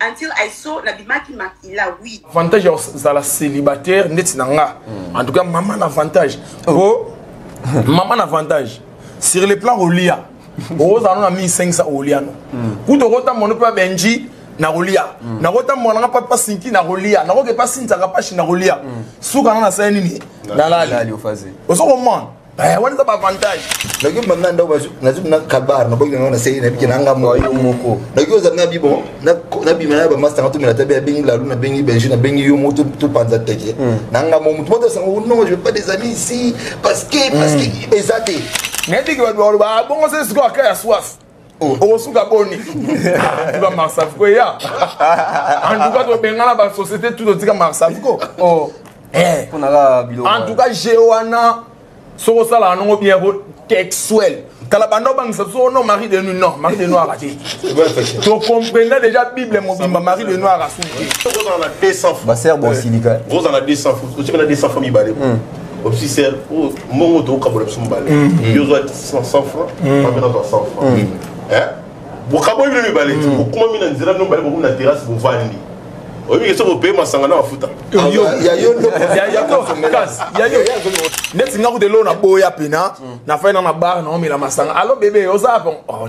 until I saw na bimaki makila oui. Avantage ya kozala célibataire ndeti na nga. Hmm. En tout cas maman na avantage. Oh. Po oh. maman na avantage sur le plan olia. Oza no na 1500 olia no. Hmm. Kuto kota mono pa Benji na kolia. Hmm. Na kota mwana nga papa Sinki na kolia. Na koke pa Sinza kapashi na kolia. Suka na na sani ni. Na lali. Ozo comprendre? aya wana eza baavantage nayoki mbanda ndako nazoki na kabar naboki nango na seli nabiki na nga moyo moko nayoki ozali na bibo nabima na bamasta nga tomela tabe abengi lalu nabengi benji nabengi yo mo topanza teke hmm. na nga mo motu moto asango oh non je pas des amis ici parce que parce que hmm. eza te nayebiki bato baloba abongo se sikoyo aka ya swaf Oh. okosuka boni tiba marsavco eya antuka tobengana basociété tu totika marsavco oh. eh. antuka je wana soki osalaka nango bien ko texuel kala banda obangisa biso no marie de nuit non marie de noir ate tocomprenda déjà bible mobimba marie de noir asuki baser bosilika ozala 200 famille bale opsi ser oyo mbongo tokokabola biso mobale yo ozwa 100 franc mame nazwa 100 franc bokaboyi bino mibale ti bokumami na nzela bino mibale bokomi na terrasse bovandi oyebi ke soki opeye masanga na mafuta neti nga kuta eloo na boya pena nafai na na bar naomela masanga alo bebe oza bon oh,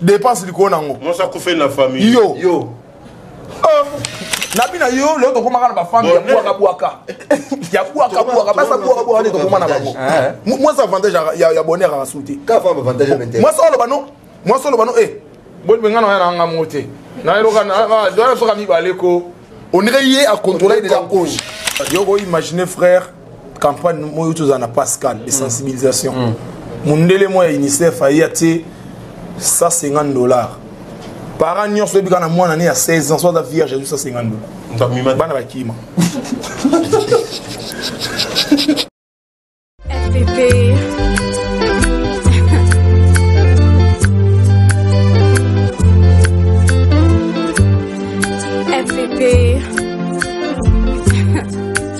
dépense likolo nango mwasi akufeli na famille yo yo ah. na bina yo lelo tokomaka na bafamille ya bwaka bwaka ya bwaka bwaka basa bwaka bwaka nde tokoma na bango eh. mwasi avantage ya bonheur akasu te mwasi oloba no mwasi oloba no e bolibengana oya na nga mo te nayeloka doya soka mibale ko onire ye akontrolaki deja cause yo koimagine frère campagne moyo tozala na pascal de mm. sensibilisation mm. mundele moko ya unicef aye atie 150 dollars parent nyonso oyebi kaka na mwana ne ya 16 ans so aza vierge azwi 150 dollars bana bakima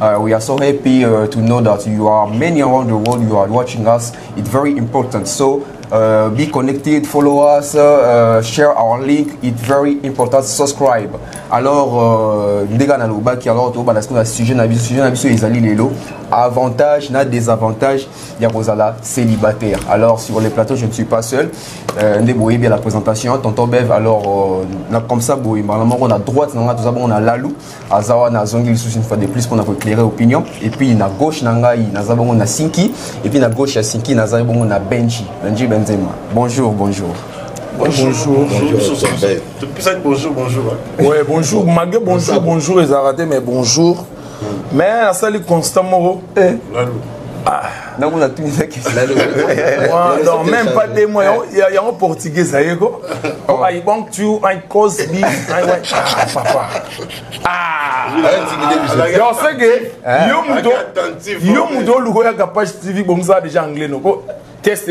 Uh, we are so happy uh, to know that you are many around the world. You are watching us. It's very important. So uh, be connected, follow us, uh, share our link. It's very important. Subscribe. Alors, uh, ndega na lobaki alors to bana sikoyo na sujet na biso sujet na biso ezali lelo avantage na désavantage ya kozala célibataire. Alors sur les plateaux je ne suis pas seul. Euh, nde boye bien la présentation tonton Bev alors euh, na comme ça boye malamoko na droite na nga toza bon na lalu. aza wana azongi lisusu une fois de plus mpona koeclaire opinion epuis na gauche na ngai naza bongo na sinki epuis na gauche ya sinki naza bongo na benji benji benzema bonjour bonjour Bonjour, bonjour, bonjour, bonjour, bonjour, bonjour. Hein. Ouais, bonjour, malgré bonjour, bonjour, les arrêtés, mais bonjour. Hmm. Mais, ça, les constants, eh. Ah. nango natuni na questionnon même pas de moi yango portugais aye ko i want you i cause me i want ah papa ah yo ce que yo moto yo moto oluka oyaka page tv bongisa déjà anglais noko test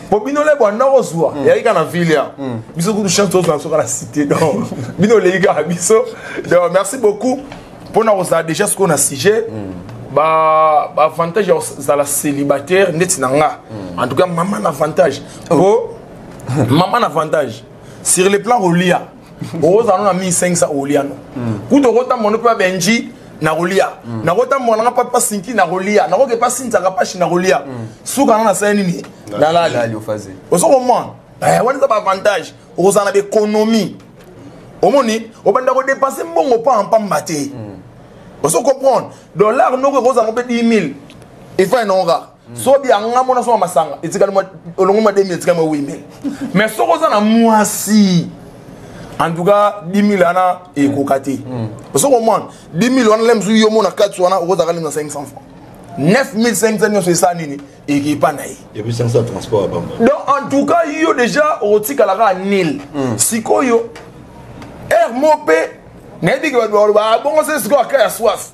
po bino le bwanda kozwa mm. eyaki kaka na ville ya mm. biso kutu chance tozwa biso kaka na cité donc bino oleki kaka biso donc merci beaucoup mpona kozala déjà sikoyo na sujet mm. baavantage ya kozala célibataire ndeti na nga en tout cas mama na avantage po oh. mama na avantage sur le plan rolia okozala no na 1500 olia no hmm. kutu okotambola no mpe ya benji nakolia hmm. nakotambola nanga mpa mpa sinki nakolia nakoke mpa sinzaka pashi nakolia hmm. suka nanga nasala nini nalali ozo komona eh, wana eza baavantage okozala na baekonomie omoni obanda kodepense mbongo mpamba mpamba te ozo comprendre dollar noko ekozala mpe 10 000 efai nonga soki yanga mona soma masanga etikali olongo mwa 2000 etikali mwa 8000 mais soki oza na mwasi en tout cas 10000 wana ekoka te hmm. osoki omona 10000 wana lem soki yo mona kati wana okozaka lem na 500 francs 9500 nyonso esa nini ekipa na ye donc en tout cas yo déjà okotikala kaka nil hmm. sikoyo heure mo mpe nayebi ke bato bakoloba abongo ah, se sikoyo aka ya swasi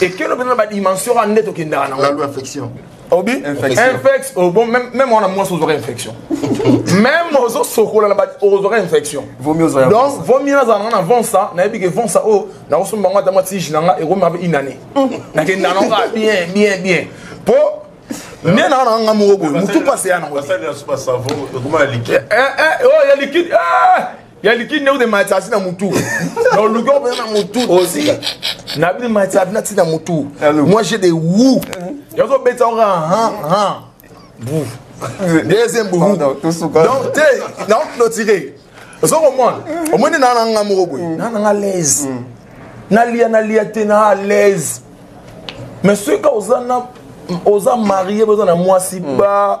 ekelo mpenza badimension wana nde tokendaka nango la loi affection obi infex oh, bon même wana mwasi ozwaka infection même ozosokola na ozwaka infection donc vomi nazala nanga na vonsa nayebi ke vonsa oyo oh, nakosomba yango ata mwa tige na nga ekoma pe une année nakenda nanga ah, bien bien bien po nde nanga nanga nga moko boye motu pase ya nango eh, eh, oyo oh, ya likide eh! ya liki ndenge de matsasi na mutu na oluki opesa na mutu na bini matsasi na ti na mutu moi j'ai des wu yazobetisa oka ha ha bu deuxième bohu donc te na clôturer ozo komona omoni na na nga moko boye mm. na na nga laise mm. nalia nalia te na à l'aise mais soki ka oza na oza marie oza na mwasi mm. ba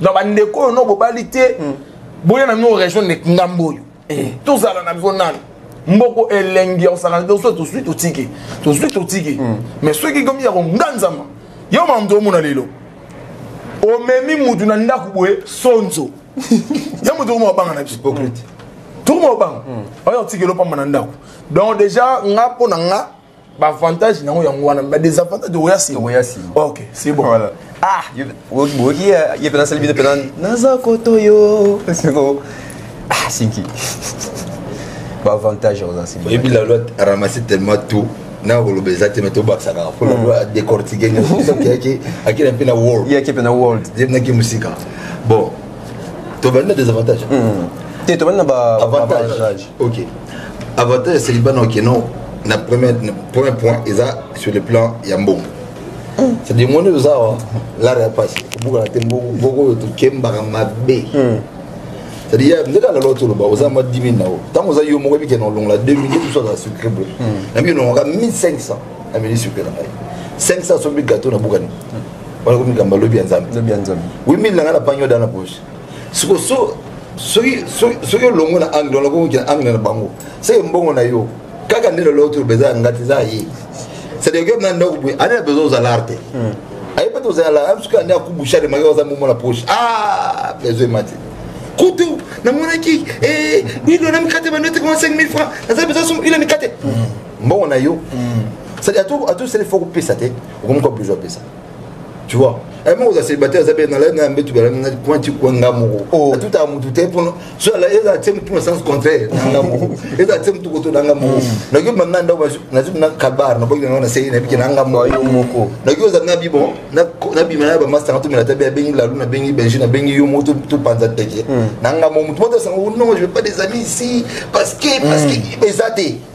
na bandeko oyo no bobali te mm. boya na mino rejoindre ngambo oyo eh. tozala na biso nani mboko elengi ya kosakana te soki tozwi totiki tozwi totiki mm. mais soki ekomi ya konganzama yo mamto omona lelo omemi mutu na ndako boye sonzo ya moto okoma obanga na biso tokoma obanga oyo otikeli opamba na ndako donc déjà nga mpo na nga baavantage nango yango wana ba desavantage oya nsima oya nsima ok c'est bon voilà ah boki ye mpe nasali bino mpe naza koto yo siko ah sinki baavantage oza nsima oyebi la loi ramasse tellement tout na koloba eza te me tobakisa kaka mpo lalo adecortike nyonso akenda mpe na world ye ake mpe na world ye mpe nake mosika bon tobandi na désavantage hmm. te tobandi na baavantage ok avantage ya célibat na okeno na premier point eza sur le plan ya mbongo hmm. c'est-à-dire moni oza awa lara ya mpasi kobukana te mbongo oyo tokembaka mabe hmm. c'est-à-dire nde kaka lelo toloba oza mwa 10 000 na yo ntango oza yo moko ebikenda olongola 2 000 biso azala sucre boye na mbi olongolaka 1500 ameli sucre na ngai 500 sombi gateau na bukani wana komi likambo lobi ya nzambe lobi ya nzambe oui mille na ngai na pangi oda na poche siko so soki soki olongo na angle wana koki na angle na bango seke mbongo na yo kaka nde lelo toloba eza ya ngai te eza ya ye c'est-à-dire que na ndako boye ane na besoin ozala arte hmm. ayebi ete ozala amsuki ane akubusha de maki oza momo na poche ah besoin emati kutu namonaki eh, ilo na mikate banote koma 5000 francs naza besoin ilo mikate hmm. mbongo na yo hmm. c'est-à-dire ato sele fo kopesa te okomi ko besoin pesa tu vois eh, moko oza célibataire aza mpe nalai na mbetu balana kwanti kwa nga moko oh. atutaka motu te mpo so ezala tie motu na sens contraire na nga moko ezala tie motu koto na nga moko hmm. nayoki banda ndako nazoki na kabar naboki nango na sei nabiki na nga moko oh, nayoki oza na bibon nabima na bamasta nga tomela tabe abengi lalu nabengi benji nabengi yo moko topanza teke hmm. na nga moko motu moto asanga oh, non je veux pas des amis ici parce que parce que hmm. eza te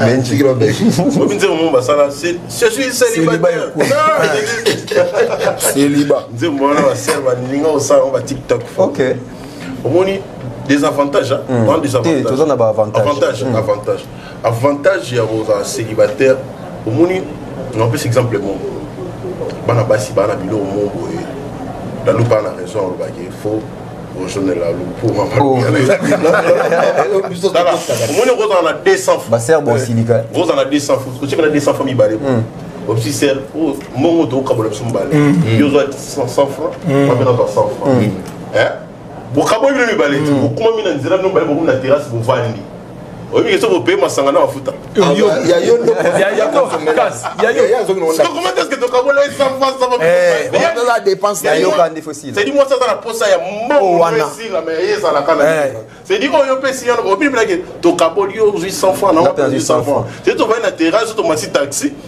mais ntikili obeki obi nzembo moko basala je suis célibataire céliba nzembo wana basere balinga kosala yango batiktok ok omoni des avantages hmm. dans des avantages toza na baavantage avantage hmm. avantage avantage ya kozala célibataire omoni napesi exemple moko bana basi bana biloko moko boye dalupa na raison alobaki faux omoni okozala na 200 baser bosilika ozala na 200 otika na 200 fa mibale obsi ser mbongo tokokabola biso mibale yo ozwa 100 franc mabe nazwa 100 franc bokaboli bino mibale bokumami na nzela bino mibale bokomi na terrasse bovandi oyebi soki opeye masanga na mafuta sedi mwasi aza na mposa ya mbongoesedi oyo opesi yano obibilaki tokaboli yo ozwi 100 franc na 100 franc sedi tobali na terrasse tomasi taxi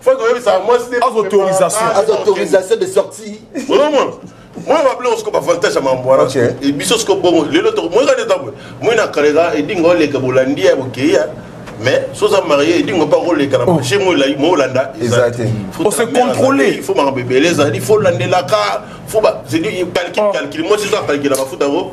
faut koyebisa mwasi te azo autorisation azo autorisation de sortie olomona moi babile osiko bavantage ya mambo wana e biso siko bongo lelo toko moi kani ntango moi na kaleka edinga oleka bolandi ya bokei ya mais soza marie edinga mpa koleka na marché moi olanda eza te ose contrôle il faut makambo ebele ezali faut landelaka faut ba calcule calcule moi soza calcule mafuta yango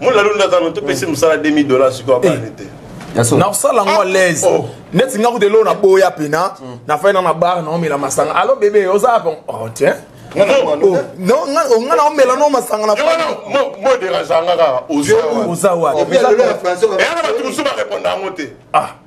mona lulu nda tano topesi mosala 2000 dollars sikoyo abani te nakosala yango alaise oh. neti nga kuta eloo naboya mpena mm. nafai na na bar naomela masanga alo bebe oza bon oh, tiens nga na omela no masanga na moderaganga kaka oza wapi bato mosusu barepondre yango te ah.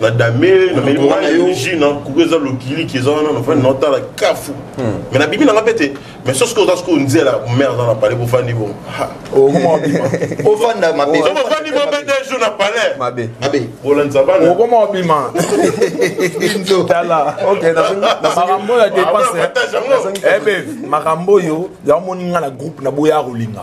na dame nameli mai ji na kuku eza lokiliki eza wana nafandi naotala kafu me nabimi nanga mpe te mais sosi ko oza sikoyo nzela mare aza na palais bofandi bo ofanda mabefandi bo mpe deux jours na palais bolandisa bana okoma obima tala makambo oyo ya depense makambo oyo yango moni nga na groupe na boya kolinga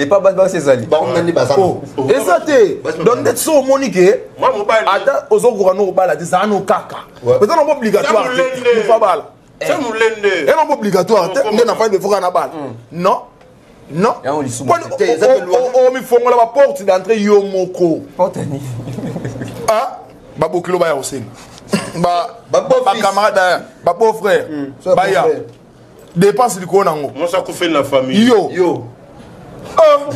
epa basi basi ezali eza te donc ndeti so omoni ke ata ozokoka no kobala te zaa no kaka eza nango obligatoire te abala eza nango obligatoire te nde na fandi efoka na bala non non omifongola baporte d'entrée yo moko babokilo baya kosenga bacamarade baya babeau frère baya dépense likolo nango mwasi akufeli na famille yo yo ah.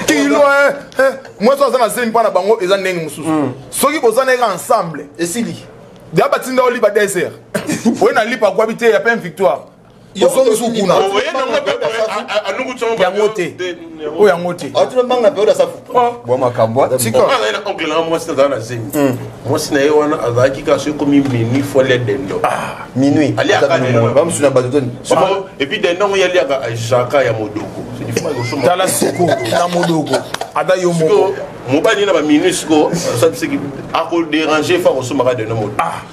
kilo eh, eh. mwasi aza na zemi mpo na bango eza ndenge mosusu mm. soki boza na eka ensemble esili ya batinda oliba desert oye na lipa akwabi te ya pe victoire ozongisi kuna yango te oyo yango te atinobanga mpe oda safu bwa makambo atikana ye na oncle nanga mwasi nazala na zemi mwasi na ye wana azalaki kaka soki ekomi minuit fo le dendo minuit aliakabamosusu na bato toni epuis dendo yango ye aliaka jaka ya modoko tala siko na modoko ata yo moko mobali na baminui siko akoderange fo akosombaka dendo modo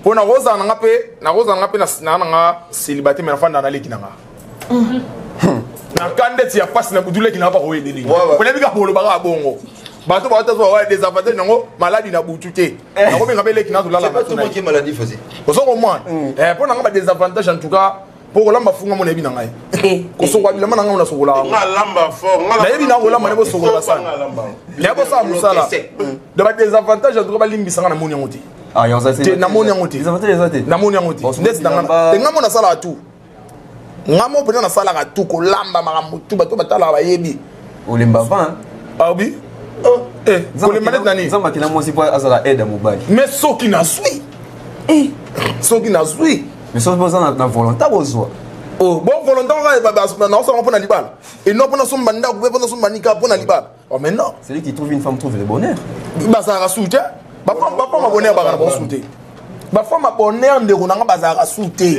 mpo nakozala na nga mpe nakozala na nga mpe na nga celibate me nafanda na leki na nga mhm. hmm. na ka ndeti ya mpasi na kutu leki na nga bakoyedeli oyebi kaka bolobaka bongo bato baotazwa wa des avantages nango maladi na butu te eh. nakobenga mpe leki nazolala ozo komwana mpo nanga ba des avantages en tout cas mpo kolamba funga mo nayebi na ngai eh. kosokola bilamba na ngai ona sokolaka nayebi na kolamba nayebi osokola basani nayebi kosala mosala da badesavantage en tout cas balimbisa ngai na moni yango te Ah, namoni yango te namoni yango te ndeti nanga enga mo nasalaka tu nga mo mpenza nasalaka tu kolamba makambo tu bato batalaka bayebi olemba avant hein? ah oui oh, eh kolemba neti nani nzambe akela mwasi mpo azala aide ya mobali mais soki nazwi eh. soki nazwi mais soki boza na volonta bozwa oh, bo volonta kaka naosala mpo na libala et non mpo nasomba ndako mpe mpo nasomba nika mpo na libala oh, mais non celui qui trouve une femme trouve le bonheur bazalaka su te bafemme bonheur bakana basu te bafemme bonheur ndeko na nga bazalaka su te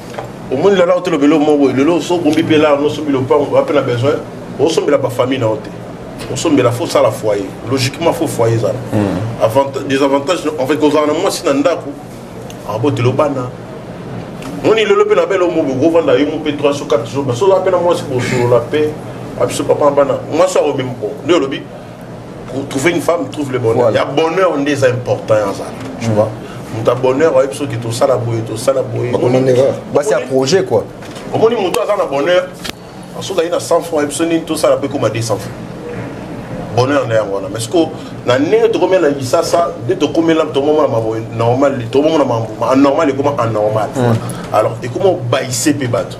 omoni lelo aotela obele omo boye lelo oso obombi mpe lala nosombela opango ape na besoin osombela bafamille na yo te osombela fo osala foyer logiquement fo foyer ezala hmm. des avantages en fait kozala na mwasi na ndako abotela obana moni lelo mpe na bele omo boye kovanda yo mo mpe 3 so 4 jours basoza mpe na mwasi bosolola mpe abiso papa bana mwasi akomema nde olobi pour trouver une femme trouve le bonheur voilà. ya bonheur nde eza important ya zala tu vois moto ya bonheur ayebi soki tosala boye tosala boye basi ya projet quoi omoni moto aza na bonheur soki aye na 100 franc ayebi so nini tosala mpe ekoma 200 franc bonheur na yango wana mais siko na ndenge tokomela na lisasa nde tokomela tomomona mambo normal tomomona mambo anormal ekoma anormal alors ekoma obayise mpe bato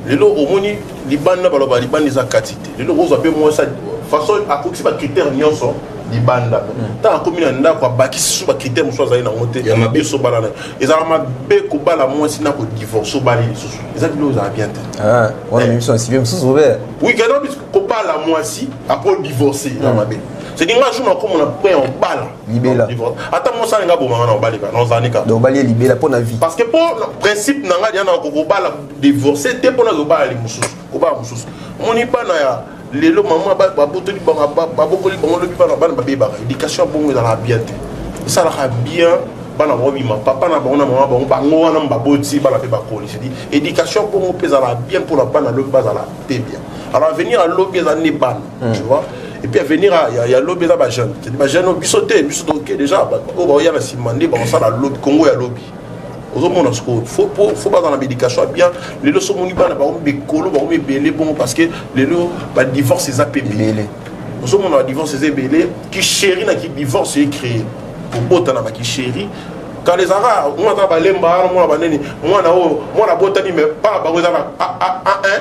lelo omoni libanda baloba libanda eza kati te lelo okozwa mpe mwasi façon akokisi bacritère nyonso libanda ntango akomi na ndako abakisi susu bacritère mosusu azali nango te biso balana ezalaka mabe kobala mwasi na kodivorce obali lisusu eza bilo ezala bien te ah, wana eh. miso nsibe mosusu obe oui kobala mwasi apres odivorce eza mabe c'est dinga jour nakomona point obala libela ata mosi alinga aboma nga na obali kaka nozani kaka obali ye libela mpo na vie parce que mpo principe na ngai yana kokobala divorce te mpo nazo kobala mosusu kobala mosusu moni bana ya lelo mama babotoli babokoli bango lobi bana bana babebaka éducation ya bongo ezalaka bien te esalaka bien bana bango bima papa na bango na mama bango bango wana baboti bana mpe bakoli sedi éducation bongo mpe ezalaka bien mpo na bana lobi bazala mpe bien alors avenir alobi eza nde bana mm. tu vois et puis avenir ya, ya lobi eza bajeune cedi bajeune oyo biso te biso toke déjà oyo baoya na nsima nde bakosala lobi kongo ya lobi ozomona sikoyo fo baza na baéducation ya bien lelo so omoni bana bango mikolo bango mibele bongo parce que lelo badivorce eza mpe ebele ozomona badivorce eza ebele kisheri na kidivorce ecréé kobota na bakisheri kala ezalaka mwana aza balemba mwana banini mwana oyo mwana abotami me bana bango eza na a1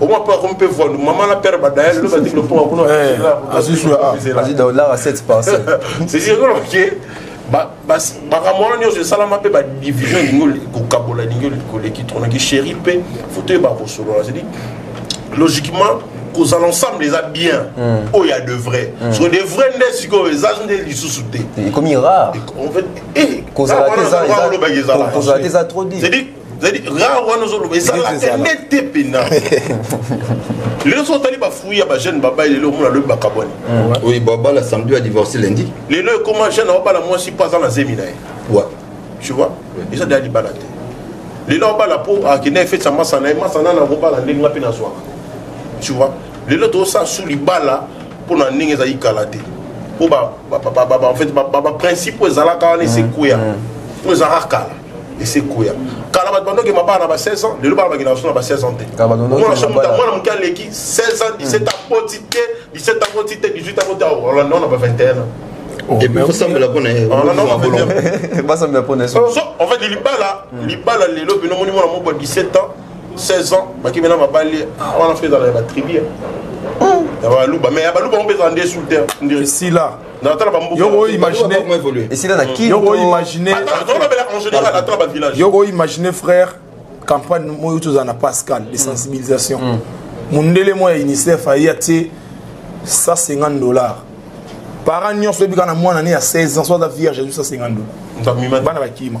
omwa mpe akomi mpe voile mama na père badaya lelo bati biloko mwa kuna azidollara 7 parcel sesiekoloke makambo wana nyonso esalama mpe badivision elingi kokabola elingi koleki tonaki chéri mpe foto oyeba kosolola cedi logiquement kozala ensemble eza bien hmm. oyo ya de vrai hmm. so de vrai nde sikoyo eza nde lisusu te ekomi rare kozala te eza trop dit zali rare wana ozoloba ezalaka nde te mpena lelo so otali bafui ya bajeune babali lelo omona lobi bakabwani oyo babala samedi ya divorce lendi lelo ekoma jeune aobala mwasi mpo aza na zemi na ye tu vois eza deya libala te lelo abala mpo akenda efeti ya masana ye masana na kobala ndenge nga mpe nazwaka tu vois lelo tozosala su libala mpo na ndenge ezali kala te mpo en fait baprincipe oyo ezalaka wana esekweya mpo ezalaka kala esekoya kala bato bandoki mabala na ba 16 ans lelo bana bakenda baso na ba 16 ans te mwana so moto mwana moke aleki 16 ans 17 ans poti te 17 ans poti te 18 ans poti olanda na ba 21 ans osambela mpona basambela mpona en fait libala libala lelo bino omoni mwana moko ya 17 ans 16 ans bakimi na mabali ah, wana mpe ezala ya batribu ya baluba mais ya baluba mpe ezala nde sous terre ndesila natala bambukaesila na kinyokoimagine imagine frère campagne moyo tozala na pascal de mm. sensibilisation mm. mondele moko ya unicef aye atie 150 dollars parent nyonso oyebika na mwana ne ya 16 ans so aza vierge azwi 150 dollars bana bakima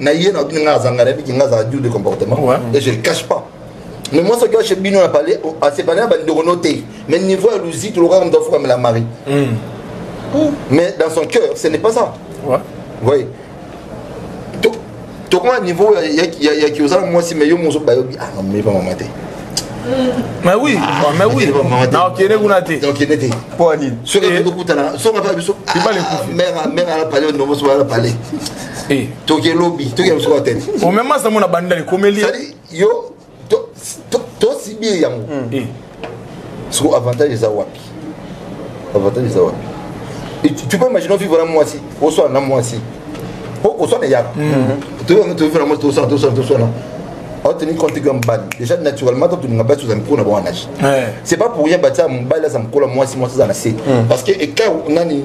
na ye na nga azanga na biki nga azala dur de comportement ouais. et je le cache pas mais moi soki ache bino na pale asepale na bandeko no te mais niveau ya luzi tolokaka moto afukamela mari hmm. mais dans son cœur ce n'est pas ça ouais. voyez tokoma niveau ya kiozala mwasi mais yo mozo bayobi ah namoni pa mama te mais oui ah, mais oui nakokende kuna te nakokende te mpo nini soki tokutana soki mpe biso mère ala pale nomoso ala pale eh. toke lobi toke biso kwa tete omema sango na bandali komeli yo tosibi yango hmm. eh. soko avantage eza wapi avantage eza wapi tu peux imaginer vivre na mwasi oswana na mwasi po oswana ya hmm. tofana mwasi toswana toswana toswana oteni compte kaka mobali déjà naturellement totolinga basi ozala mikolo na bango anaje c'est pas pour rien batia mobali aza mokolo mwasi mwasi aza na se hmm. parce que écart nani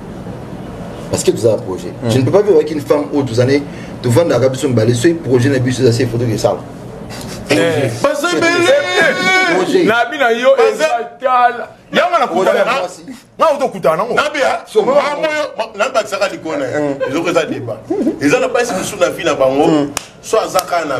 parce que tozala projet mm. je ne peux pas vivre avec une femme oyo tozane tovandaka biso mibale soki projet na biso eza se foto kesala nabi na yo ezatala yanga nakutanaotokutana nango nabakisaka likolo na ye ezoko eza deba eza na basi mosusu na vi na bango so aza kaka na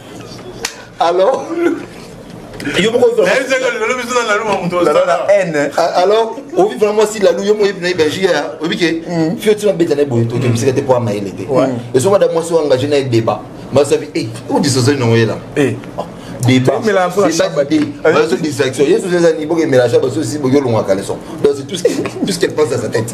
alors yo moko alors ovi vraiment mwasi lalu yo moyebi na ye belgique ya oyebi ke fio tina beta na ye boye toke mosika te mpo amayele te ezo mada mwasi oyo engage na ye débat masabi e odisosoli nango yela bazo distraction yesu ezani bokemela sha basosi boki olongwaka leson donc c'est tout ce qu'elle pense à sa tête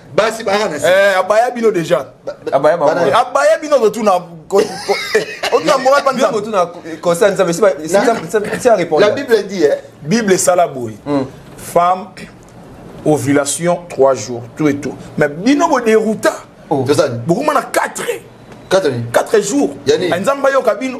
basi baka na eh abaya bino déjà abaya ba abaya bino to tuna otuna moral pas nzambe tuna concerne nzambe si si si répondre la bible dit eh bible sala boy hmm. femme ovulation 3 jours tout et tout mais bino bo dérouta oh. bokuma na 4 4 jours nzambe ayoka bino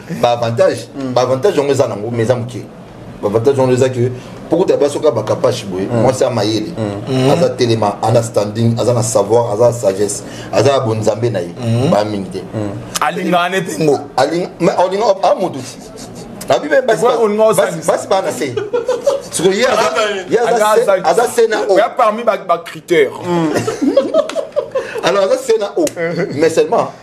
ba avantage mm. ba avantage yango eza nango mais eza moke ba avantage yango eza que pokuta basi oka bakapashi boye mm. mwasi ya mayele mm. aza telema ana standing aza na savoir aza na sagesse aza na bonzambe na ye baya mingi te alingaka ne te ngo olinga a motu abi me basi baa na se sikoyo ye aza se na o parmi bacritère alors aza se na o mais seulement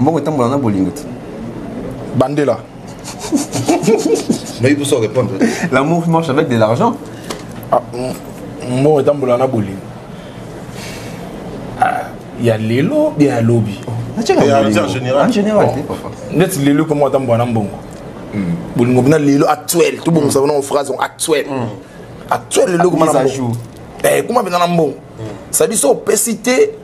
mbongo etambola na bolingo te bandela nayebi poso répondre l'amour marche avec de l'argent ah, mbongo etambola na bolingo ah, ya lelo bia ya lobi neti lelo mpo moko atambola na mbongo hmm. bolingo mpena lelo actuel tobongisa mpena ngo phrase actuel hmm. actuel lelo kuma na mbongo eh, kuma mpena na mbongo hmm. sabi so opesi te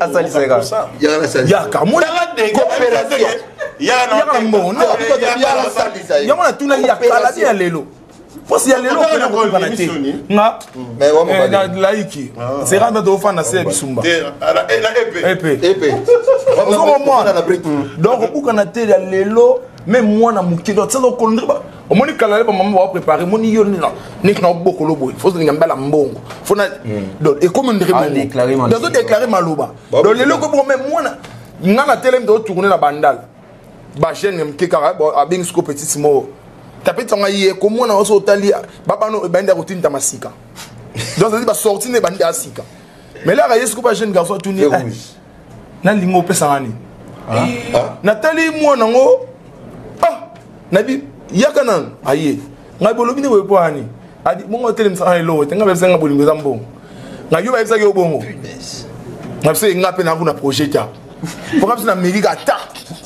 asalisaka yaka yango natunaki ya kala te ya lelo mposi ya lelo okenda kokokana te nga laiki zera nda tofanda se ya bisumba epe ozokomwana donc okokana te ya lelo meme mwana moke donc saza okondriba omoni kala le bamama bao prépare moni yo neti na obokolo boye fo ozalinga mbala mbongo fo na hmm. donc ekomi ndenge bongo donc ozodeklare maloba donc lelo ekomi bongo mai mwana nga na telemi to otourne na bandal bajeune moke kaka abengi siko petite moko tapeti yango ye komona oso otali babano ebandi akotinda masika donc ezali basorti nde ebandi asika mais laka ye siko bajeune garçon atuni nalingi opesa nga nini ah, ah. natali mwana yango ah, nabi yaka nanu aye ngai bolobi nini boye mpo ani adi bongo otelemisa nga eloko te ngai bayebisa nga bolingo eza mbongo ngai yo bayebisaki yo bongo ngai biso enga mpe naku na projet ta mpo ngai biso na meki ata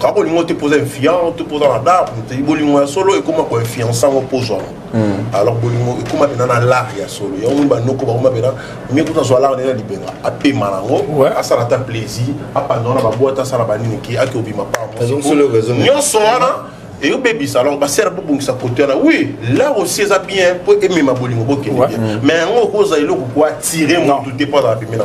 kaka olingi ote mpoza infiant to mpoza na bar motei bolingo ya solo ekóma koinfiansa yango mpozwama hmm. alors bolingo ekóma mpena na lar ya solo yango moni banoko bakóma mpena mie kuta azwa lar nde na libenga apema na yango asala ata plaisir apanda wana babwate asala banini ke ake obima panyonso wana eyobebisa alors basere bobongisa kote wana oui lar aussi eza bien mpo emema bolingo bokende bien mais yango okozala eloko koatire motu te mpo azala pembe na